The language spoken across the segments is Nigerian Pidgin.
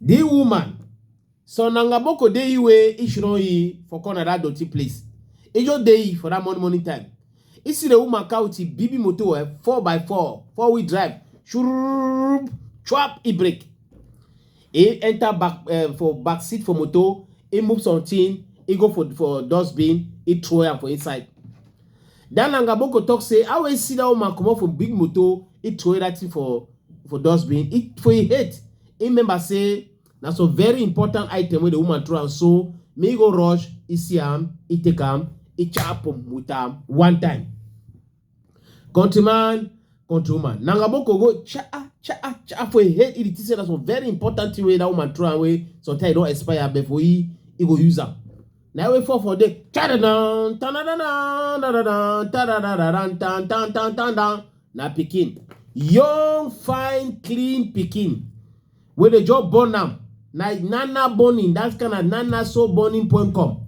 The woman, so na ngaboko dey iwe ishiro yi for corner that dirty place. Ijo dey yi for that morning morning time. Isi the woman kauti bibi moto eh, four by four, four wheel drive, shurub, chop e break. E enter back uh, for back seat for moto, e move something, e go for for dustbin, e throw am for inside. That na Ngaboko talk say how he see that woman comot from big motor, he throway that thing for for dustbin. He for he hate, he remember say na some very important item wey the woman throw am so me go rush, he see am, he take am, he chop am with am one time. Countryman, countrywoman, na Ngaboko go cha cha cha for he head, he dey think say na some very important thing wey that woman throw am wey sometimes e don expire but for he, he go use am. Now we fall for the ta-da-dun, ta-da-da-dun, ta-da-dun, ta-da-da-da-dun, dun, dun, dun, dun, dun. Na pikin. Young, fine, clean pikin. Wey dey just born am. Na nana burning, that kind of nana so burning point come.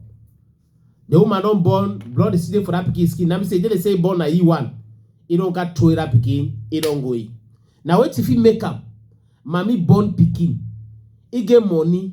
The woman don born, blood is still dey for that pikin skin. Na me say, dey dey say e born na e one. E don ka throw that pikin, e don go e. Na wetin fit make am? Mami born pikin. E get money,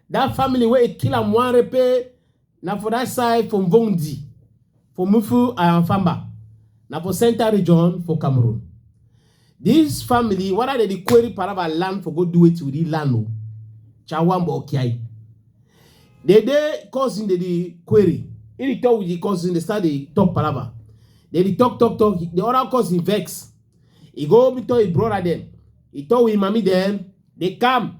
That family where it kill am one repe na for that side for Mvondi, for Mufu and Famba, na for central region for Cameroon. This family, what are they the query paraba land for go do it with the land? o? Chawamba Okiai. They they causing the, the query. In the talk with the cousin, they start the talk paraba. They the talk talk talk. The other cousin vex. He go be tell his brother them. He tell his mommy them. They come.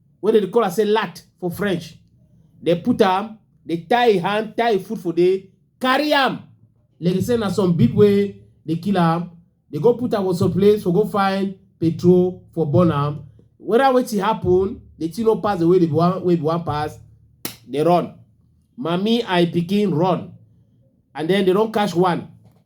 wey dem dey call am say lat for french dem put am dey tie im hand tie im foot for there carry am like dey say na some big wey dey kill am dey go put am for some place for go find petrol for burn am whether wetin happen the thing no pass the way the one wey be one pass dey run mami and im pikin run and then they don catch one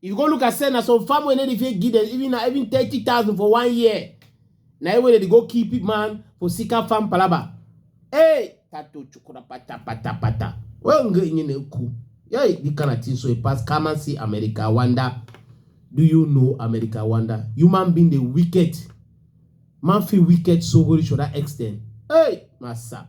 If you go look at say na some farm wey no dey fit give them even na even thirty thousand for one year. Na him wey dey go kill people man for Sika farm palaba. Hey, tato chukura pata pata pata. Well, nge inye na eku. Hey, this kind of thing so e pass. Come and see America wonder. Do you know America wonder? Human being dey wicked. Man fit wicked so go reach to that extent. Hey, massa.